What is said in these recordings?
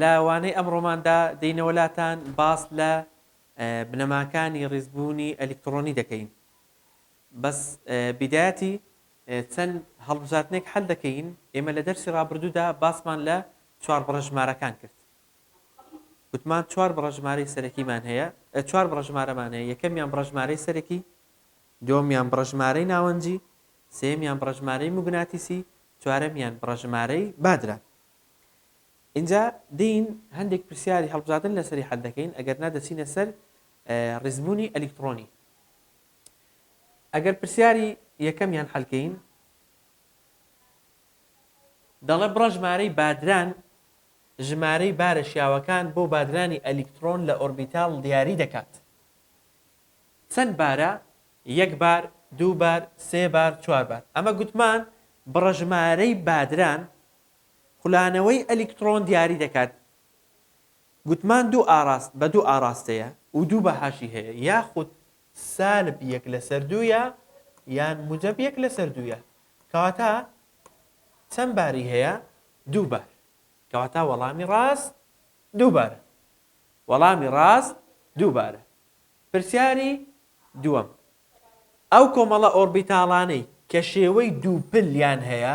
لە وانەی ئەمڕۆماندا دێینەوە لاتان باس لە بنەماکانی ڕیزبوونی ئەلیکتڕۆنی دەکەین بەس بیدایەتی چەند هەڵبژاردنێک حەل دەکەین ئێمە لە دەرسی ڕابردوودا باسمان لە چوار بڕە ژمارەکان کرد گوتمان چوار بڕە ژمارەی سەرەکیمان هەیە چوار بڕە ژمارەمان هەیە یەکەمیان بڕە ژمارەی سەرەکی دومیان بڕە ژمارەی ناوەنجی سێمیان بڕە ژمارەی موگناتیسی چوارەمیان بڕە ژمارەی بادرە ئینجا دێین هەندێک پرسیاری هەڵبژاردن لەسەری حەل دەکەین ئەگەر نا دەچینە سەر ڕیزبوونی ئەلیکترۆنی ئەگەر پرسیاری یەکەمیان حەلکەین دەڵێ بڕە ژمارەی بادران ژمارەی بارە شیاوەکان بۆ بادرانی ئەلیکترۆن لە ئۆربیتال دیاری دەکات چەند بارە یەک بار دوو بار سێ بار چوار بار ئەمە گوتمان بڕە ژمارەی بادران خولانەوەی ئەلیکتڕۆن دیاری دەکات. گوتمان دوو ئاڕاست بە دوو ئاڕاستەیە و دوو بەهاشی هەیە یاخود سالب یەک لەسەر دوویە یان موجەب یەک لەسەر دوویە کەواتە چەند باری هەیە دوو بار کەواتە وەڵامی ڕاست دوو بارە وەڵامی ڕاست دوو بارە پرسیاری دووەم ئەو کۆمەڵە ئۆربیتاڵانەی کە شێوەی دووپل یان هەیە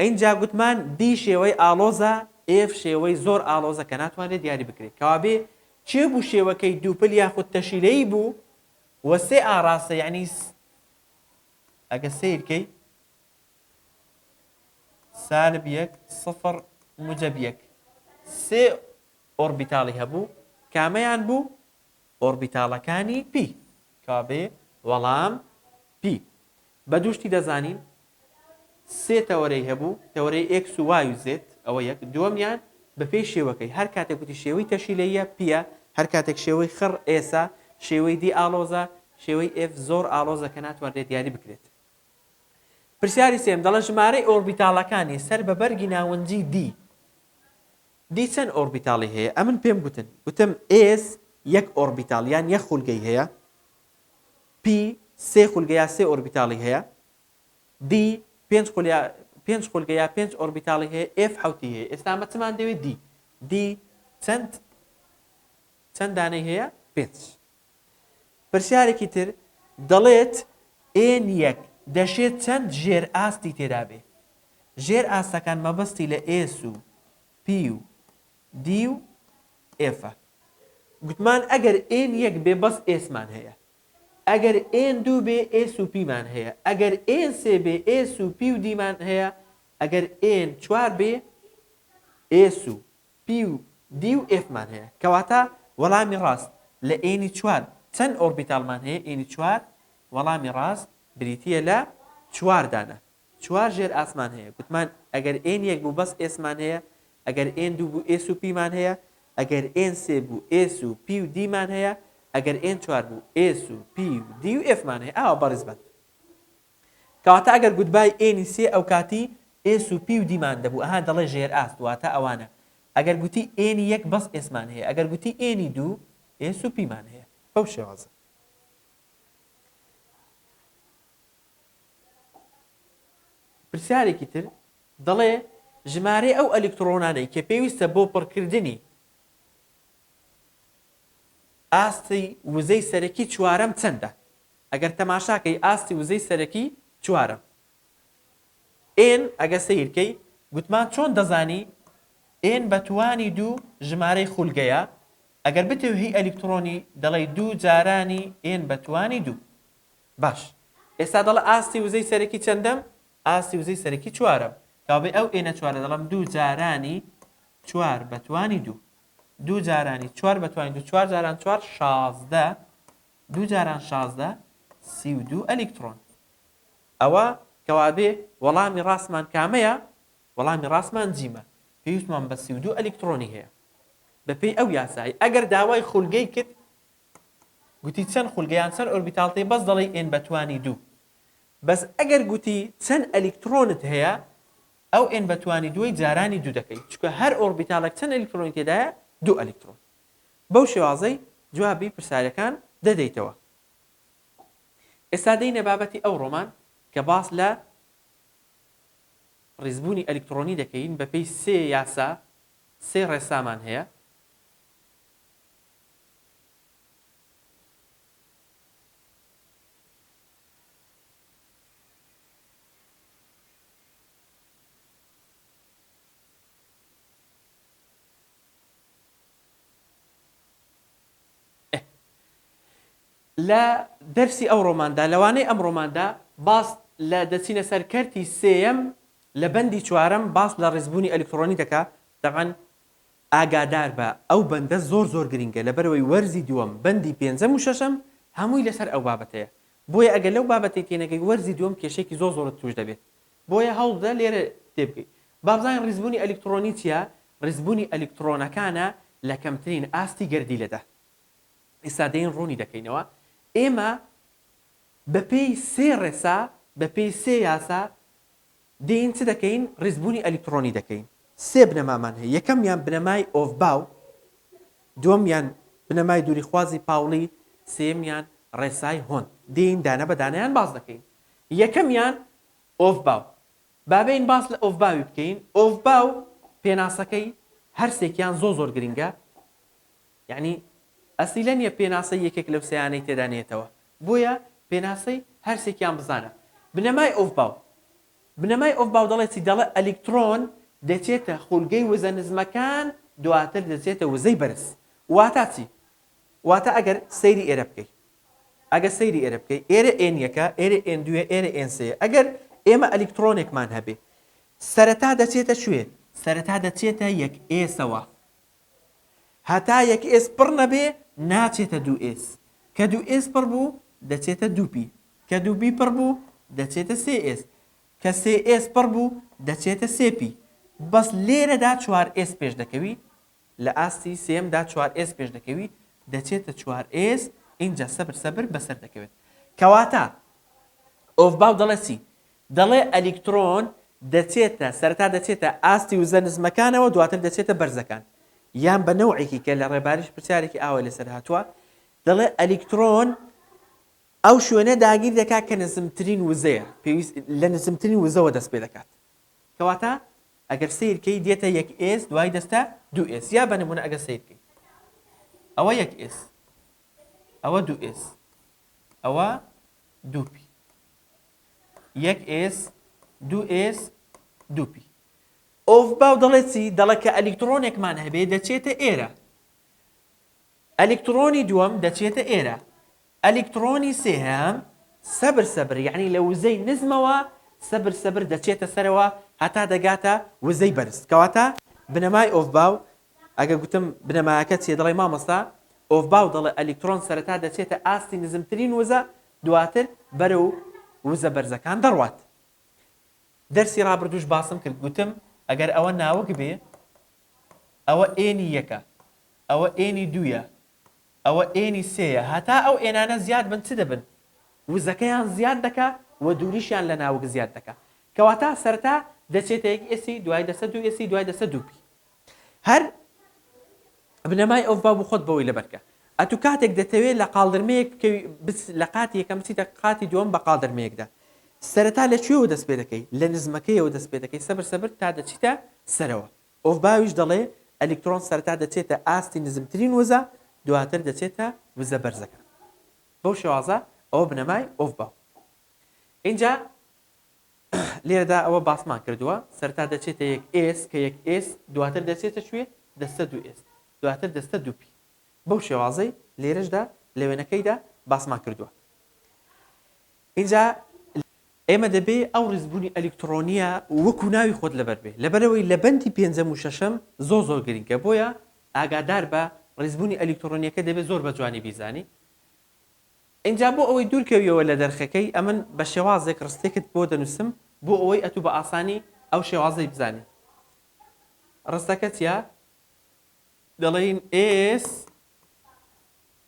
ئینجا گوتمان B شێوەی ئاڵۆزە، F شێوەی زۆر ئاڵۆزە کە ناتوانرێت دیاری بکرێت. کەوابێ کێ بوو شێوەکەی دووپل یاخود تەشیلەیی بوو و سێ ئاڕاستە یەعنی س ئەگە سەیر کەی سالب یەک سفر موجەب یەک سێ ئۆڕبیتاڵی هەبوو کامەیان بوو؟ ئۆڕبیتاڵەکانی پی کەوا بێ وەڵام پی بە دوو شتی دەزانین سێ تەوەرەی هەبوو تەوەرەی ئێکس و وای و زێت ئەوە یەک دووەمیان بەپێی شێوەکەی هەر کاتێک وتی شێوەی تەشیلەیە پیە هەر کاتێک شێوەی خڕ ئێسە شێوەی دی ئاڵۆزە شێوەی ئێف زۆر ئاڵۆزە کە ناتوانرێت دیاری بکرێت پرسیاری سێم دەڵە ژمارەی ئۆربیتاڵەکانی سەر بە بەرگی ناونجی دی دی چەند ئۆربیتاڵی هەیە؟ ئەمن پێم گوتن، گوتم، ئێس یەک ئۆربیتاڵ یان یەک خولگەی هەیە، پی سێ خولگە یا سێ ئۆربیتاڵی هەیە، دی پێنج خولیا پێنج خولگە یا پێنج ئۆربیتاڵی هەیە، ئێف حەوتی هەیە. ئێستا ئەمە چمان دەوێ؟ دی. دی چەند چەند دانەی هەیە؟ پێنج. پرسیارێکی تر، دەڵێت، ئێن یەک دەشێ چەند ژێرئاستی تێدا بێ؟ ژێر ئاستەکان مەبەستی لە ئێس و پی و دی و ئێفە. گوتمان ئەگەر ئێن یەک بێ بەس ئێسمان هەیە. ئەگەر ئێن دوو بێ ئێس و پیمان هەیە. ئەگەر ئێن سێ بێ ئێس و پی و دیمان هەیە. ئەگەر ئێن چوار بێ ئێس و پی و دی و ئێفمان هەیە. کەواتە وەڵامی ڕاست لە ئێنی چوار چەند ئۆربیتاڵمان هەیە؟ ئێنی چوار وەڵامی ڕاست بریتییە لە چوار دانە. چوار ژێرئاسمان هەیە. گوتمان ئەگەر ئێن یەک بوو بەس ئێسمان هەیە، ئەگەر ئێن دوو بوو ئێس و پیمان هەیە، ئەگەر ئێن سێ بوو ئێس و پی و دیمان هەیە، ئەگەر ئێن چوار بوو ئێس و پی و دی و ئێفمان هەیە. ئاوا بەڕیزبان. کەواتە ئەگەر گوتبای ئێنی سێ ئەوکاتی ئێس و پی و دیمان دەبوو ئەها دەڵێ ژێرئاست واتا ئەوانە ئەگەر گوتی ئێنی یەک بەس ئێسمان هەیە ئەگەر گوتی ئێنی دوو ئێس و پیمان هەیە بەو شێوازە. پرسیارێکی تر دەڵێ ژمارەی ئەو ئەلیکتڕۆنانەی کە پێویستە بۆ پڕکردنی ئاستی وزەی سەرەکی چوارەم چەندە؟ ئەگەر تەماشا کەی ئاستی وزەی سەرەکی چوارە N ئەگە سەیر کەی گوتمان چۆن دەزانی N بە توانی دوو ژمارەی خولگەیە ئەگەر بتێو هی ئەلیکتڕۆنی دەڵێی دوو جارانی N بە توانی دوو باش ئێستا دەڵە ئاستی وزەی سەرەکی چەندەم ئاستی وزەی سەرەکی چوارەم کاوەبێ ئەو N ە چوارە دەڵەم دوو جارانی چوار بە توانی دوو دوو جارانی چوار بە توانی دوو چوار جاران چوار شازدە دوو جاران شازدە سی و دوو ئەلیکتڕۆن. ئەوە کەوابێ وەڵامی ڕاستمان کامەیە؟ وەڵامی ڕاستمان جیمە. پێویستمان بە سی و دوو ئەلیکتڕۆنی هەیە. بەپێی ئەو یاسایە ئەگەر داوای خولگەی کرد گوتی چەند خولگە یان چەند ئۆربیتاڵت هەیە بەس دەڵێی ئێن بە توانی دوو. بەس ئەگەر گوتی چەند ئەلیکتڕۆنت هەیە ئەو ئێن بە توانی دووەی جارانی دوو دەکەی چونکە هەر ئۆربیتاڵێک چەند ئەلیکتڕۆنی تێدایە دوو ئەلیکتڕۆن. بەو شێوازەی جوابی پرسارەکان دەدەیتەوە. ئێستا دێینە بابەتی ئەوڕۆمان کە باس لە ڕیزبوونی ئەلیکتڕۆنی دەکەین بە پێی سێ یاسا سێ ڕێسامان هەیە. لە دەرسی ئەو ڕۆماندا، لە وانەی ئەم ڕۆماندا باس لە دەچینە سەر کەرتی سێیەم لە بەندی چوارەم باس لە ڕیزبوونی ئەلیکتڕۆنی دەکا، تەبعەن ئاگادار بە ئەو بەندە زۆر زۆر گرینگە لەبەرئەوەی وەرزی دووەم بەندی پێنجەم و شەشەم هەمووی لەسەر ئەو بابەتەیە بۆیە ئەگەر لەو بابەتەی تێنەگەی وەرزی دووەم کێشەیەکی زۆر زۆرت تووش دەبێت بۆیە هەوڵ بدە لێرە تێبگەی بابزانین ڕیزبوونی ئەلیکتڕۆنی چیە؟ ڕیزبوونی ئەلیکتڕۆنەکانە لە کەمترین ئاستی گەردیلەدا. ئیستا دێین ڕوونی دەکەینەوە. ئێمە بە پێی سێ ڕێسا، بە پێی سێ یاسا دێین چ دەکەین؟ ڕیزبوونی ئەلیکتڕۆنی دەکەین. سێ بنەمامان هەیە. یەکەمیان بنەمای ئۆفباو، دووەمیان بنەمای دووریخوازی پاوڵی، سێیەمیان ڕێسای هۆند. دێین دانە بە دانەیان باس دەکەین. یەکەمیان ئۆفباو. با بێین باس لە ئۆڤباوی بکەین، ئۆڤباو پێناسەکەی هەرسێکیان زۆر زۆر گرنگە، یەعنی ئەسیلە نیە پێناسەی یەکێک لەو سێیانەی تێدا نێتەوە، بۆیە پێناسەی هەرسێکیان بزانە. بنەمای ئۆڤباو، بنەمای ئۆڤباو دەڵێ چی؟ دەڵێ ئەلیکترۆن دەچێتە خولگەی وزە نزمەکان دواتر دەچێتە وزەی بەرز. واتا چی؟ واتە ئەگەر سەیری ئێرە بکەی ئەگە سەیری ئێرە بکەی ئێرە ئێن یەکە ئێرە ئێن دوویە ئێرە ئێن سێیە ئەگەر ئێمە ئەلیکتڕۆنێکمان هەبێ سەرەتا دەچێتە کوێ سەرەتا دەچێتە یەک ئێسەوە هەتا یەک ئێس پڕ نەبێ ناچێتە دوو ئێس کە دوو ئێس پڕ بوو دەچێتە دوو پی کە دوو بی پڕ بوو دەچێتە سێ ئێس کە سێ ئێس پڕ بوو دەچێتە سێ پی بەس لێرەدا چوار ئێس پێش دەکەوی لە ئاستی سێیەم دا چوار ئێسک پێش دەکەوی دەچێتە چوار ئێسک ئینجا سەبر سەبر بەسەر دەکەوێت کەواتە ئۆفباو دەڵێ چی دەڵێ ئەلیکترۆن دەچێتە سەرتا دەچێتە ئاستی وزە نزمەکانەوە دواتر دەچێتە بەرزەکان یان بە نەوعێکی کە لە ڕێباریش پرسیارێکی ئاوای لەسەر هاتووە دەڵێ ئەلیکترۆن ئەو شوێنە داگیر دەکات کە نزمترین وزەیە پێویست لە نزمترین وزەوە دەست پێ دەکات کەواتە ئەگەر سەیر کەی دێتە یەک ئێس دوای دەستە دوو ئێس یا بە نمونە ئەگەر سەیر کەی ئەوە یەک ئێس ئەوە دوو ئێس ئەوە دووپی یەک ئێس دوو ئێس دووپی ئۆف باو دەڵێت چی دەڵێ کە ئەلیکترۆنێکمان هەبێ دەچێتە ئێرە ئەلیکترۆنی دووەم دەچێتە ئێرە ئەلیکتڕۆنی سێهەم سەبر سەبر یەعنی لە وزەی نزمەوە سەبر سەبر دەچێتە سەرەوە هەتا دەگاتە وزەی بەرز کەواتە بنەمای ئۆفباو ئەگە گوتم بنەمایەکە چیە دەڵێ مامۆستا ئۆفباو دەڵێ ئەلیکتڕۆن سەرەتا دەچێتە ئاستی نزمترین وزە دواتر بەرەو وزە بەرزەکان دەڕوات دەرسی ڕابردوش باسم کرد گوتم ئەگەر ئەوە ناوک بێ ئەوە ئێنی یەکە ئەوە ئێنی دوویە ئەوە ئێنی سێیە هەتا ئەو ئێنانە زیاد بن چ دەبن؟ وزەکەیان زیاد دەکا و دووریشیان لە ناوک زیاد دەکا کەواتا سەرەتا دەچێتە یەک ئێسی دوای دەچە دوو ئێسی دوای دەچە دوو پی هەر بنەمای ئەوڤ با بۆ خۆت بەوەی لەبەر کە ئەتوو کاتێک دەتەوێت لە قاڵدرمەیەک بکەوی بچ لە قاتی یەکەم بچیتە قاتی دووەم بە قاڵدرمەیەکدا سەرەتا لە کوێوە دەست پێ دەکەی لە نزمەکەیەوە دەست پێ دەکەی سەبر سەبر تا دەچیتە سەرەوە ئۆفباویش دەڵێ ئەلیکترۆن سەرەتا دەچێتە ئاستی نزمترین وزە دواتر دەچێتە وزە بەرزەکان بەو شێوازە ئەوە بنەمای ئۆفباو ئینجا لێرەدا ئەوە باسمان کردووە سەرتا دەچێتە یەک ئێس کە یەک ئێس دواتر دەچێتە شوێ دەستە دو ئێس دواتر دەستە دوپی بەو شێوازەی لێرەشدا لە وێنەکەیدا باسمان کردووە ئینجا ئێمە دەبێ ئەو ڕیزبوونی ئەلیکتڕۆنییە وەکوو ناوی خۆت لەبەر بێ، لەبەرئەوەی لە بەندی پێنجەم و شەشەم زۆر زۆر گرینگە، بۆیە ئاگادار بە ڕیزبوونی ئەلیکتڕۆنییەکە دەبێ زۆر بە جوانی بیزانی. ئینجا بۆ ئەوەی دوور کەویەوە لە دەرخەکەی، ئەمن بە شێوازێک ڕستێکت بۆ دەنووسم بۆ ئەوەی ئەتوو بە ئاسانی ئەو شێوازەی بزانی. ڕستەکە چییە؟ دەڵێین ئێس.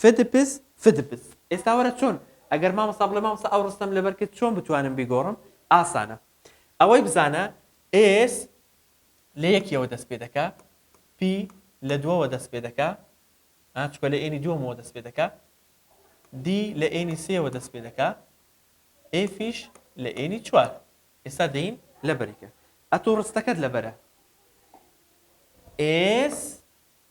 فدپس فدپس ئێستا وەرە چۆن ئەگەر مامۆستا بڵێ مامۆستا ئەو ڕستەم لەبەر کرد چۆن بتوانم بیگۆڕم ئاسانە ئەوەی بزانە ئێس لە یەکیەوە دەست پێ دەکا پی لە دووەوە دەست پێ دەکا چکە لە ئێنی دووەمەوە دەست پێ دەکا دی لە ئێنی سێوە دەست پێ دەکا ئێ فیش لە ئێنی چوار ئێستا دەین لەبەری کرد ئەتۆ ڕستەکەت لەبەرە ئێس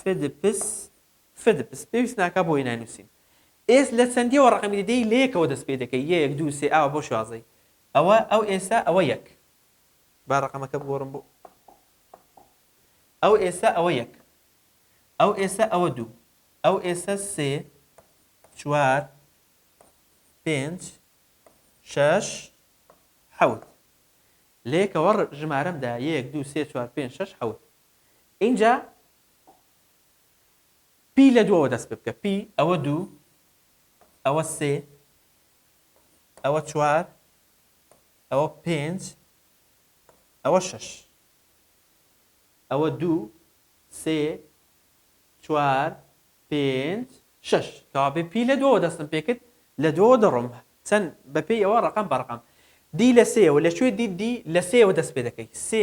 فدپس، فدپس، پێویست ناکا بۆ هێنای نووسین. ئێس لە چەندیەوە ڕەقەمی دەدەی لە یەکەوە دەست پێ دەکەی یەک دوو سێ ئاوا بۆ شازەی ئەوە ئەو ئێسە ئەوە یەک با ڕەقەمەکە بگۆڕم بۆ ئەو ئێسە ئەوە یەک ئەو ئێسە ئەوە دوو ئەو ئێسە سێ چوار پێنج شەش حەوت لە یەکەوە ڕ- ژمارەمدا یەک دوو سێ چوار پێنج شەش حەوت ئینجا پی لە دووەوە دەست پێ بکە پی ئەوە دوو ئەوە سێ ئەوە چوار ئەوە پێنج ئەوە شەش ئەوە دوو سێ چوار پێنج شەش کەوابێ پی لە دووەوە دەستم پێ کرد لە دووەوە دەڕۆم چەند بەپێی ئەوە ڕقم بە ڕقم دی لە سێەوە لە کوێ دی دی لە سێەوە دەست پێ دەکەی سێ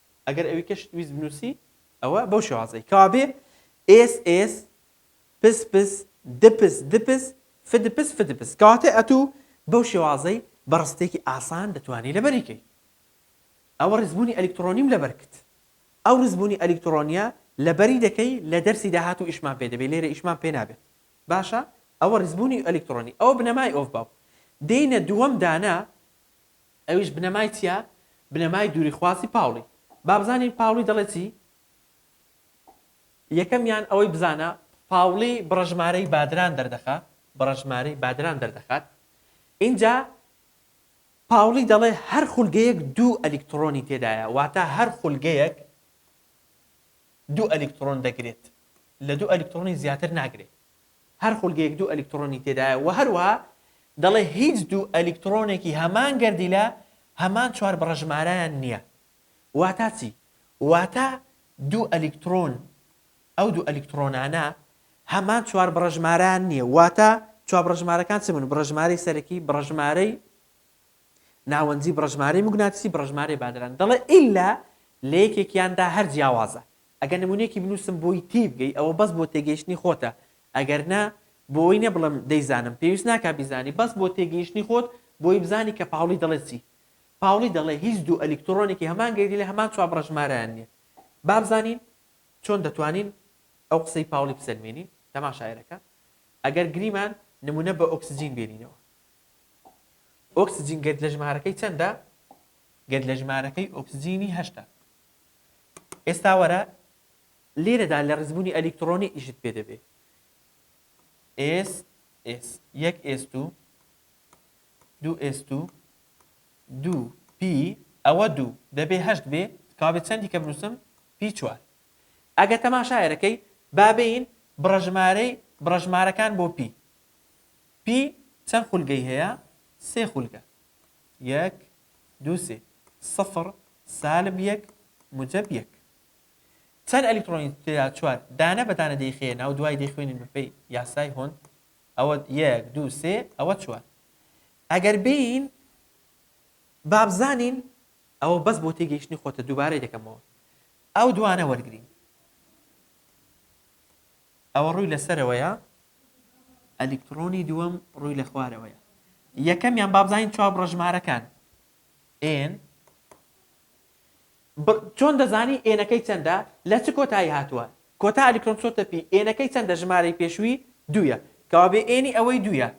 ئەگەر ئەوی کەشت ویست بنووسی ئەوە بەو شێوازەی کەوابێ ئێس ئێس پس پس دپس دپس فدپس فدپس کەواتە ئەتوو بەو شێوازەی بە ڕستێکی ئاسان دەتوانی لەبەری کەی ئەوە ڕیزبوونی ئەلیکتڕۆنیم لەبەر کت ئەو ڕیزبوونی ئەلیکتڕۆنیە لەبەری دەکەی لە دەرسی داهاتوو ئیشمان پێ دەبێ لێرە ئیشمان پێ نابێت باشە ئەوە ڕیزبوونی ئەلیکتڕۆنی ئەوە بنەمای ئۆف باو دێینە دووەم دانە ئەویش بنەمای چیە؟ بنەمای دووری خواسی پاوڵی. با بزانین پاوڵی دەڵێ چی؟ یەکەمیان ئەوەی بزانە پاوڵی بڕەژمارەی بادران دەردەخا بڕەژمارەی بادران دەردەخات ئینجا پاوڵی دەڵێ هەر خولگەیەک دوو ئەلیکتڕۆنی تێدایە واتە هەر خولگەیەک دوو ئەلیکتڕۆن دەگرێت لە دوو ئەلیکتڕۆنی زیاتر ناگرێت هەر خولگەیەک دوو ئەلیکتڕۆنی تێدایە و هەروەها دەڵێ هیچ دوو ئەلیکتڕۆنێکی هەمان گەردیلە هەمان چوار بڕەژمارەیان نییە. واتا چی؟ واتا دوو ئەلیکتڕۆن ئەو دوو ئەلیکتڕۆنانە هەمان چوار بڕەژمارەیان نییە واتا چوار بڕەژمارەکان چ بوون؟ بڕەژمارەی سەرەکی، بڕەژمارەی ناوەنجی، بڕەژمارەی موگناتیسی، بڕەژمارەی بادران. دەڵێ ئیلا لە یەکێکیاندا هەر جیاوازە. ئەگەر نمونەیەکی بنوسم بۆی تیبگەی ئەوە بەس بۆ تێگەیشتنی خۆتە ئەگەر نا بۆی نەبڵێم دەیزانم پێویست ناکا بیزانی بەس بۆ تێگەیشتنی خۆت بۆی بزانی کە پاوڵی دەڵێ چی پاوڵی دەڵێ هیچ دوو ئەلیکتڕۆنێکی هەمان گەردی لە هەمان چوار بڕەژمارەیان نیە بابزانین چۆن دەتوانین ئەو قسەی پاوڵی بسەلمێنین تەما شاعیرەکە ئەگەر گریمان نمونە بە ئۆکسجین بێنینەوە ئۆکسجین گەرد لە ژمارەکەی چەندە گەرد لە ژمارەکەی ئۆکسجینی هەشتە ئێستا وەرە لێرەدا لە ڕیزبوونی ئەلیکترۆنی ئیشت پێ دەبێ ئێس ئێس یەک ئێست و دوو ئێست و دوو پی ئەوە دوو دەبێ هەشت بێ کابێ چەندی کە بنووسم پی چوار ئەگە تەماشایەرەکەی بابین بڕژمارەی بڕژمارەکان بۆ پی پی چەند خولگەی هەیە سێ خولگە یەک دوو سێ سفر سالب یەک موجەب یەک چەند ئەلیکترۆنی تێدا چوار دانە بە دانە دەیخەیە ناو دوای دەیخوێنین بەپێی یاسای هۆند ئەوە یەک دوو سێ ئەوە چوار ئەگەر بین بابزانین ئەوە بەس بۆ تێگەیشتنی خۆتە دووبارەی دەکەمەوە ئەو دوانە وەرگین ئەوە ڕووی لە سەرەوەیە، ئەلیکتڕۆنی دووەم ڕووی لە خوارەوەیە. یەکەمیان با بزانین چوار بڕەژمارەکان N بڕ چۆن دەزانی ئێنەکەی چەندە لە چ کۆتایی هاتووە؟ کۆتا ئەلیکتڕۆن چۆتە پی ئێنەکەی چەندە ژمارەی پێشووی دوویە کەوابێ ئێنی ئەوەی دوویە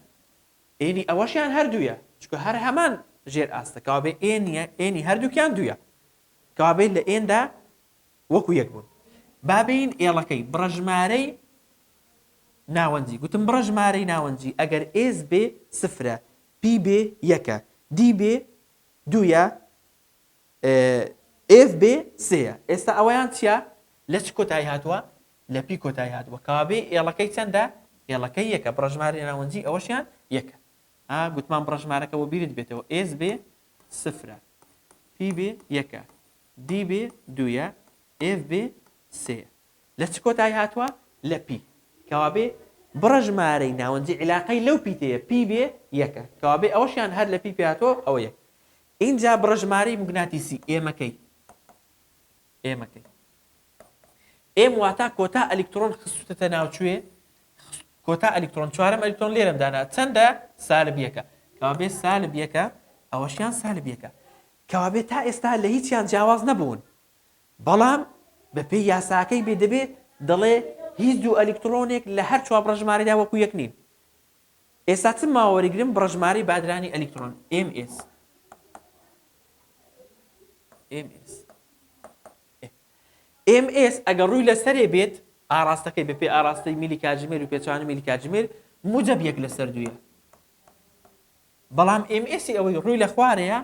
ئێنی ئەوەشیان هەر دوویە چونکە هەر هەمان ژێر ئاستە کەوابێ ئێنیە ئێنی هەردووکیان دوویە کەوابێ لە ئێندا وەکو یەک بوون. با بێین ئێڵەکەی بڕەژمارەی ناوەندی، گوتم بڕەژمارەی ناوەندی ئەگەر ئێس بێ سفرە، پی بێ یەکە، دی بێ دوویە، ئێف بێ سێیە. ئێستا ئەوەیان چیە؟ لە چ کۆتایی هاتووە؟ لە پی کۆتایی هاتووە. کەوابێ ئێڵەکەی چەندە؟ ئێڵەکەی یەکە. بڕەژمارەی ناوەندی ئەوەشیان یەکە. ها، گوتمان بڕەژمارەکە بۆ بیرت بێتەوە ئێس بێ سفرە، پی بێ یەکە، D بێ دوویە، F بێ سێیە. لە چ کۆتایی هاتووە؟ لە P. کەوابێ بڕە ژمارەی ناوەنجی عیلاقەی لەو پیتەیە P بێ یەکە. کەوابێ ئەوەشیان هەر لە P پێهاتووە، ئەوە یەک. ئینجا بڕە ژمارەی موگناتیسی ئێمەکەی. ئێمەکەی. ئێم واتا کۆتا ئەلیکترۆن خستوتەتە ناو کوێ کۆتا ئەلیکترۆن چوارەم ئەلیکترۆن لێرەم دانا چەندە سالب یەکە کەوابێ سالب یەکە ئەوەشیان سالب یەکە کەوابێ تا ئێستا لە هیچیان جیاواز نەبوون بەڵام بەپێی یاساکەی بێ دەبێ دەڵێ هیچ دوو ئەلیکترۆنێک لە هەر چوار بڕژمارەدا وەکو یەک نین ئێستا چ ماوەریگرم بڕژماری بادرانی ئەلیکترۆن MS MS ئێم ئێس ئەگەر ڕووی لە سەرێ بێت ئاڕاستەکەی بە پێ ئاڕاستەی میلی کاتژمێر و پێچەوانەی میلی کاتژمێر موجەب یەک لە سەر دوویە بەڵام ئێم ئێسی ئەوەی ڕووی لە خوارەیە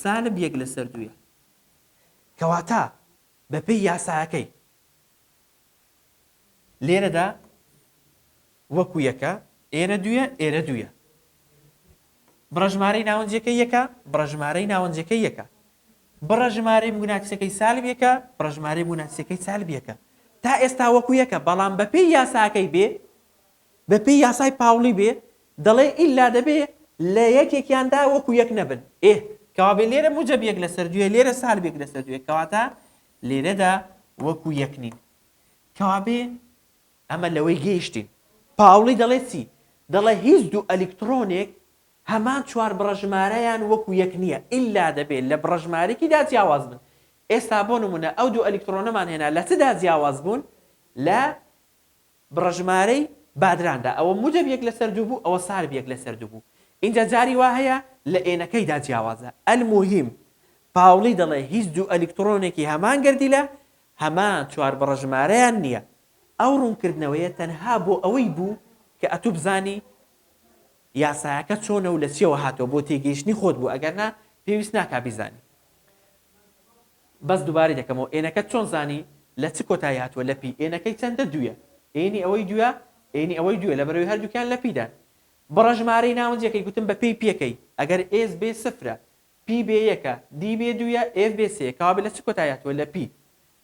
سالب یەک لە سەر دوویە کەواتە بە پێی یاساکەی لێرەدا وەکو یەکە، ئێرە دوویە، ئێرە دوویە. بڕەژمارەی ناوەنجیەکەی یەکە، بڕەژمارەی ناوەنجەکەی یەکە. بڕەژمارەی موگناتیسەکەی سالب یەکە، بڕەژمارەی موگناتیسەکەی سالب یەکە. تا ئێستا وەکو یەکە، بەڵام بەپێی یاساکەی بێ، بەپێی یاسای پاوڵی بێ، دەڵێ ئیلا دەبێ لە یەکێکیاندا وەکو یەک نەبن. ئێ، کەوابێ لێرە موجەب یەک لەسەر دوویە، لێرە سالب یەک لەسەر دوویە. کەواتە لێرەدا وەکو یەک نین. کەوابێ ئەمە لەوەی گەیشتین. پاوڵی دەڵێ چی؟ دەڵێ هیچ دوو ئەلیکتڕۆنێک هەمان چوار بڕەژمارەیان وەکو یەک نییە، ئیلا دەبێ لە بڕەژمارێکیدا جیاواز بن. ئێستا بۆ نموونە ئەو دوو ئەلیکتڕۆنەمان هێنا لە چدا جیاواز بوون؟ لە بڕە ژمارەی بادراندا ئەوە مودەب یەک لەسەر دوو بوو ئەوە سارب یەک لەسەر دوو بوو ئینجا جاری وا هەیە لە ئێنەکەیدا جیاوازە الموهیم پاوڵی دەڵێ هیچ دوو ئەلیکتڕۆنێکی هەمان گەردیلە هەمان چوار بڕە ژمارەیان نییە ئەو ڕوونکردنەوەیە تەنها بۆ ئەوەی بوو کە ئەتوو بزانی یاسایەکە چۆنە و لە چیەوە هاتووە بۆ تێگەیشتنی خۆت بوو ئەگەر نا پێویست ناکا بیزانی. بەس دوبارەی دەکەمەوە ئێنەکەت چۆن زانی لە چ کۆتایی هاتووە لە پی ئێنەکەی چەندە دوویە ئێنی ئەوەی دووە ئێنی ئەوەی دووە لەبەرەوەی هەردووکیان لە پیدان بڕە ژمارەی ناونجەکەی گوتم بە پێی پیەکەی ئەگەر ئێس بێ سفرە پی بێ یەکە دی بێ دوویە ئێف بێ سێیە کەوابێ لە چ کۆتایی هاتووە لە پی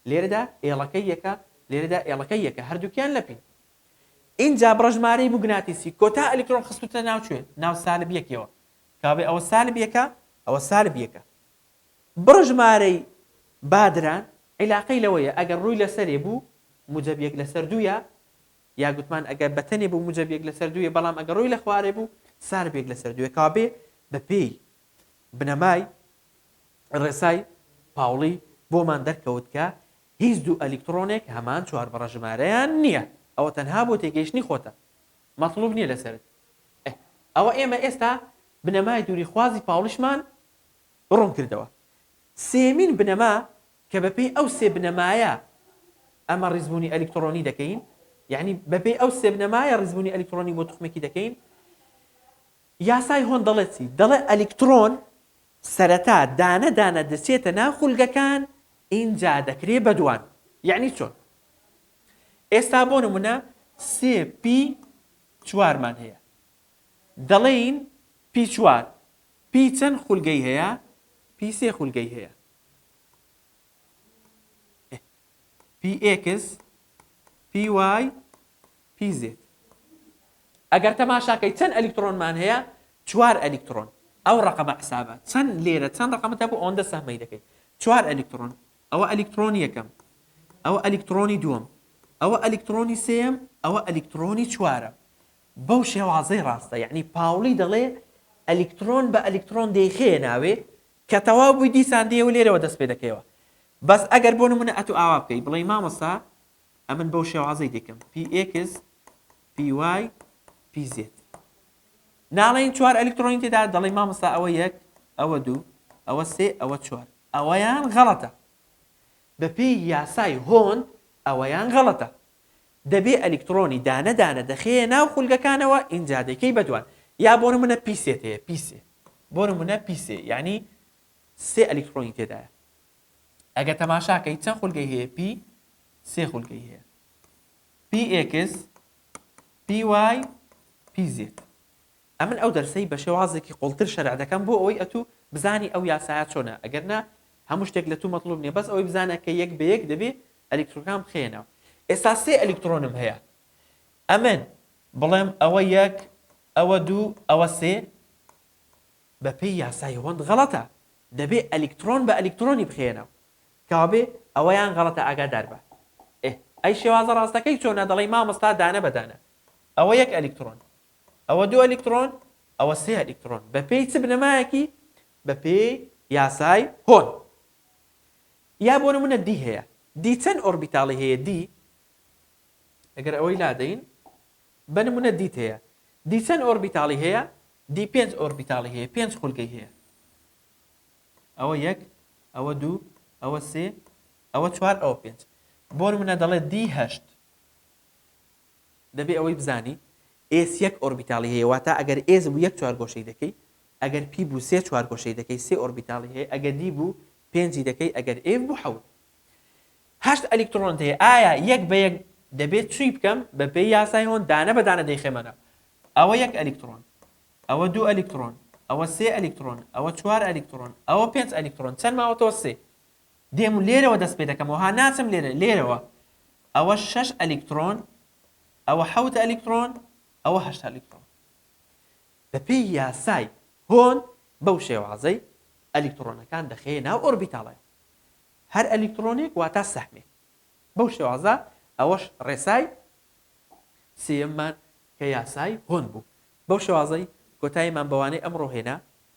لێرەدا ئێڵەکەی یەکە لێرەدا ئێڵەکەی یەکە هەردووکیان لە پین ئینجا بڕە ژمارەی موگناتیسی کۆتا ئەلیکترۆن خستووتە ناو کوێ ناو سالب یەکیەوە کەوابێ ئەوە سالب یەکە ئەوە سالب یەکە بڕ ژمارەی بادران عیلاقەی لەوەیە ئەگەر ڕووی لەسەرێ بوو موجەب یەک لەسەر دوویە یا گوتمان ئەگەر بەتەنێ بوو موجەب یەک لەسەر دوویە بەڵام ئەگەر ڕووی لەخوارێ بوو سالب یەک لەسەر دوویە کەوابێ بەپێی بنەمای ڕێسای پاوڵی بۆمان دەرکەوت کە هیچ دوو ئەلیکتڕۆنێک هەمان چوار بڕە ژمارەیان نییە ئەوە تەنها بۆ تێگەیشتنی خۆتە مەتڵوب نییە لەسەرت ئەوە ئێمە ئێستا بنەمای دووری خوازی پاوڵیشمان ڕوونکردەوە. سێیەمین بنەما کە بەپێی ئەو سێ بنەمایە ئەمە ڕیزبوونی ئەلیکتڕۆنی دەکەین، یەعنی بەپێی ئەو سێ بنەمایە ڕیزبوونی ئەلیکتڕۆنی بۆ توخمێکی دەکەین. یاسای هۆن دەڵێت چی؟ دەڵێت ئەلیکتڕۆن سەرەتا دانە دانە دەچێتە ناو خولگەکان ئینجا دەکرێ بە دوان. یەعنی چۆن؟ ئێستا بۆ نمونە سێ پی چوارمان هەیە دەڵێین پی چوار پی چەند خولگەی هەیە؟ پی سێ خولگەی هەیە. پی ئێکس، پی وای، پی زێت. ئەگەر تەماشاکەی چەند ئەلیکترۆنمان هەیە؟ چوار ئەلیکترۆن. ئەو ڕەقەمە حسابە. چەند لێرە چەند ڕەقەمت هەبوو ئەوەندە سەهمەی دەکەی. چوار ئەلیکترۆن. ئەوە ئەلیکترۆنی یەکەم. ئەوە ئەلیکترۆنی دووەم. ئەوە ئەلیکترۆنی سێیەم. ئەوە ئەلیکترۆنی چوارەم. بەو شێوازەی ڕاستە یەعنی پاوڵی دەڵێ ئەلیکتڕۆن بە ئەلیکتڕۆن دەیخەیە ناوێ کە تەواو بووی دیسان دێ و لێرەوە دەست پێ دەکەیەوە بەس ئەگەر بۆ نموونە ئەتوو ئاوا بکەی بڵێی مامۆستا ئەمن بەو شێوازەی دەیکەم px py pz ناڵێین چوار ئەلیکتڕۆنی تێدا دەڵێی مامۆستا ئەوە یەک ئەوە دوو ئەوە سێ ئەوە چوار ئەوەیان غەڵەتە بەپێی یاسای هۆند ئەوەیان غەڵەتە دەبێ ئەلیکتڕۆنی دانە دانە دەخەیە ناو خولگەکانەوە ئینجا دەیکەی بە دوان یا بۆ نمونە پیسێت هەیە پیسێ بۆ نمونە پیسێ یانی سێ ئەلیکتڕۆنی تێدایە ئەگە تەماشاکەی چەند خولگەی هەیە پی سێ خولگەی هەیە پی ئێکس پی وای پی زێت ئەمن ئەو دەرسەی بە شێوازێکی قوڵتر شەرح دەکەم بۆ ئەوەی ئەتو بزانی ئەو یاسایە چۆنە ئەگەر نا هەموو شتێک لە تو مەتڵوب نیە بەس ئەوەی بزانە کە یەک بە یەک دەبێ ئەلیکترۆنەکان بخەیە ناو ئێستا سێ ئەلیکترۆنم هەیە ئەمن بڵێم ئەوە یەک ئەوە دوو ئەوە سێ بە پێی یاسای هۆند غەڵەتە دەبێ ئەلیکترۆن بە ئەلیکترۆنی بخەیە ناو کەوابێ ئەوەیان غەڵەتە ئاگادار بە ئێ ئەی شێوازە ڕاستەکەی چۆنە دەڵێی مامۆستا دانە بە دانە ئەوە یەک ئەلیکترۆن ئەوە دوو ئەلیکترۆن، ئەوە سێ ئەلیکترۆن، بەپێی چ بنەمایەکی؟ بەپێی یاسای هۆن. یا بۆ نموونە دی هەیە، دی چەند ئۆربیتاڵی هەیە؟ دی ئەگەر ئەوەی لادەین، بە نموونە دیت هەیە، دی چەند ئۆربیتاڵی هەیە؟ دی پێنج ئۆربیتاڵی هەیە، پێنج خولگەی هەیە. ئەوە یەک، ئەوە دوو، ئەوە سێ، ئەوە چوار، ئەوە پێنج. بۆ نموونە دەڵێت دی هەشت. دەبێ ئەوەی بزانی ئێس یەک ئۆربیتاڵی هەیە واتا ئەگەر ئێس بوو یەک چوارگۆشەی دەکەی ئەگەر پی بوو سێ چوارگۆشەی دەکەی سێ ئۆربیتاڵی هەیە ئەگە دی بوو پێنجی دەکەی ئەگەر ئێف بوو حەوت هەشت ئەلیکتڕۆنت هەیە ئایا یەک بە یەک دەبێ چوی بکەم بە پێی یاسای هۆن دانە بە دانە دەیخەمە ناو ئەوە یەک ئەلیکتڕۆن ئەوە دوو ئەلیکتڕۆن ئەوە سێ ئەلیکتڕۆن ئەوە چوار ئەلیکتڕۆن ئەوە پێنج ئەلیکتڕۆن چەند ماوەتەوە سێ دێم و لێرەوە دەست پێ دەکەمەوە ها ناچم لێرە لێرەوە ئەوە شەش ئەلیکترۆن ئەوە حەوت ئەلیکترۆن ئەوە هەشت ئەلیکترۆن بەپێی یاسای هۆن بەو شێوازەی ئەلیکترۆنەکان دەخەیە ناو ئۆربیتاڵێ هەر ئەلیکترۆنێک واتا سەحمێک بەو شێوازە ئەوەش ڕێسای سێمان کە یاسای هۆن بوو بەو شێوازەی کۆتاییمان بەوانەی ئەمڕۆ هێنا